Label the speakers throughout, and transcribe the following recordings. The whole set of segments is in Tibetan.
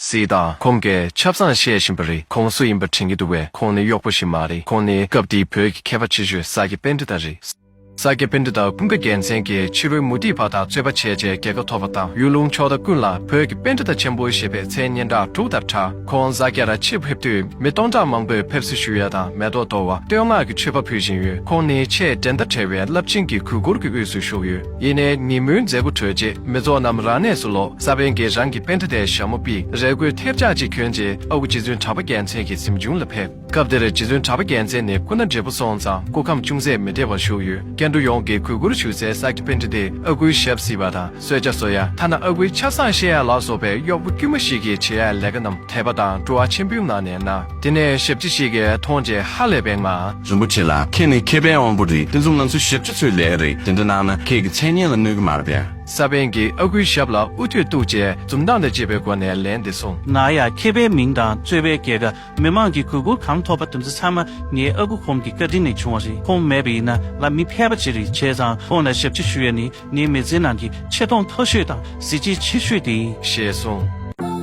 Speaker 1: སྲིད་དང་ཁོང་གིས་ཆབ་བཟང་བཤད་བཞིན་པ་རེད་ཁོང་སུ་ཡིན་པ་དྲན་གྱི་འདུག་བས་ཁོང་ནི་གཡོག་པོ་ཞིག་མ་རེད་ཁོང་ནི་སྐབས་དེའི་བོད་ཀྱི་མཁས་པ་ཆེ་ཤོས་ས་སྐྱ་དཔལ་འབྲི་དག་རེད། ས་སྐྱ་དཔལ་འབྲི་དག་ཀུན་དགའ་རྒྱལ་མཚན་གྱིས་ཕྱི་རོལ་མུ་ཏིག་བ་དག་རྩོད་པ་བྱས་རྗེས་རྒྱལ་ཁ་ཐོབ་པ་དང་གཡུ་ལུང་ཕྱོགས་མཐའ་ཀུན་ལ་བོད་ཀྱི་དཔལ་འབྲི་དག་ཆེན་པོ་ཞེས་པའི་མཚན་སྙན་གྲགས་དྲུག་ལྟར་གྲགས་ཁོང་ས་སྐྱ་ར་ཕྱིར་ཕེབས་དུས་མི་སྟོང་ཕྲག་མང་པོས་ཕེབས་བསུ་ཞུ་ཡ་དང་མེ་ཏོག་དོར་བ་བསྟོད་བསྔགས་ཀྱི་མཆོད་པ་ཕུལ་བཞིན་ཡོད་ཁོང་ནི་ཆེས་འགྲན་ཟླ་བྲལ་བའི་རླབས་ཆེན་གྱི་གུས་བཀུར་གྱི་དབུས་སུ་བཞུགས་ཡོད། ཡེ་ནས་ཉིན་མོའི་མཛད་སྒོ་གྲོལ་རྗེས་མི་ཚོགས་རྣམས་རང་གནས་སུ་ལོག་ས་བན་གྱིས་རང་གི་པན་ཏི་ཏའི་ཞྭ་མོ་པིག་རལ་གོས་ཐེབས་ཆག་ཅིག་གྱོན་རྗེས་ཨ་ཁུ་རྗེ་བཙུན་གྲགས་པ་རྒྱལ་མཚན་གྱི་གཟིམ་ཆུང་ལ་ཕེབས། སྐབས་དེར་རྗེ་བཙུན་གྲགས་པ་རྒྱལ་མཚན་ནི་སྐུ་ན་བགྲེས་པོ་སོང་ཙང་སྐུ་ཁམས་ཅུང་ཟད་མི་བདེ་བར་བཞུགས་ཡོད་སྐད་འབྲུག་ཡོངས་ཀྱིས་གུས་བཀུར་ཞུ་སའི་ས་སྐྱ་པན་ཏི་ཏས་ཨ་ཁུའི་ཞབས་བསིལ་བ་དང་གསོལ་ཇ་བཟོ་ཡ་ཐ་ན་ཨ་ཁུའི་ཆ་བཟང་ཤེས་ཡ་ལགས་བཟོ་པའི་གཡོག་པོ་དཀྱུས་མ་ཞིག་གིས་བྱེད་ཡའི་ལས་ཀ་རྣམས། དད་པ་དང་སྤྲོ་བ་ཆེན་པོའི་ངང་ནས་གནང། དེ་ནས་ཞབས་ཕྱི་ཞིག་གིས་མཐོང་རྗེས་ཧ་ལས་པའི་ངང། རིན་པོ་ཆེ་ལགས་ཁྱེད་ནི་
Speaker 2: མཁས་པའི་དབང་པོ་རེད་དེ་ཚོ་ང་ཚོའི་ཞབས་ཕྱི་ཚོའི་ལས་རེད་དེ་འདྲ་གནང་ན་ཁྱེད་ཀྱི་མཚན་སྙན་ལ་གནོད་ཀྱི་མ་རེད་པས། ས་པན་གྱིས་ཨ་ཁུའི་
Speaker 1: ཞབས་ལ་དབུ་ཐོད་གཏུགས་རྗེས་འཛུམ་མདངས་དང་བཅས་པའི་སྒོ་ནས་ལན་འདི་གསུངས། ང་ཡང་མཁས་པའི་
Speaker 3: མིང་དང་གཙོས་པའི་རྒྱལ་ཁབ་མི་མང་གི་གུས་བཀུར་གང་ཐོབ་པ་དེ་ཚོ་ཚང་མ་ངའི་ཨ་ཁུ་ཁོང་གི་བཀའ་དྲིན་ནས་བྱུང་བ་རེད་ཁོང་མེད་པ་ཡིན་ན་ང་མི་ཕལ་པ་ཅི་རིགས་བྱས་ཙང་ཁོང་ལ་ཞབས་ཕྱི་ཞུ་ཡ་ནི་ངའི་མི་ཚེའི་ནང་གི་ཆེ་མཐོང་མཐོ་ཤོས་དང་གཟི་བརྗིད་ཆེ་ཤོས་དེ་ཡིན། ཞེས་གསུངས།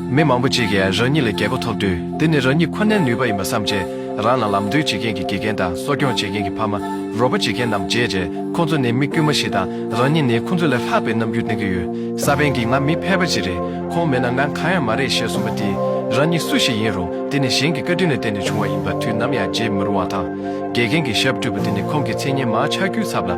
Speaker 1: མི་མང་པོ་ཅིག་གིས་རང་ཉིད་ལ་རྒྱལ་སྒོ་ཐོབ་དུས་དེ་ནི་རང་ཉིད་ཁོ་ནའི་ནུས་པ་ཡིན་པར་བསམ་ཆེད་རང་ལ་ལམ་སྟོན་བྱེད་མཁན་གྱི་དགེ་རྒན་དང་གསོ་སྐྱོང་བྱེད་མཁན་གྱི་ཕ་མ། རོགས་པ་བྱེད་མཁན་རྣམས་བརྗེད་རྗེས་ཁོང་ཚོ་ནི་མི་དཀྱུས་མ་ཞིག་དང་རང་ཉིད་ནི་ཁོང་ཚོ་ལས་ལྷག་པའི་རྣམ་འགྱུར་བསྟན་གྱི་ཡོད། ས་པན་གྱིས་ང་མི་ཕལ་པ་ཅིག་རེད་ཁོང་མེད་ན་ང་གང་ཡང་མ་རེད་ཞེས་གསུངས་པ་དེས་རང་ཉིད་སུ་ཞིག་ཡིན་རུང་དེ་ནི་གཞན་གྱི་བཀའ་དྲིན་ལ་བརྟེན་ནས་བྱུང་བ་ཡིན་པ་དུས་ནམ་ཡང་བརྗེད་མི་རུང་བ་དང། དགེ་རྒན་གྱི་ཞབས་བཀྲུས་པ་དེ་ནི་ཁོང་གི་མཚན་སྙན་མང་ཆགས་རྒྱུའི་ཚབ་ལ།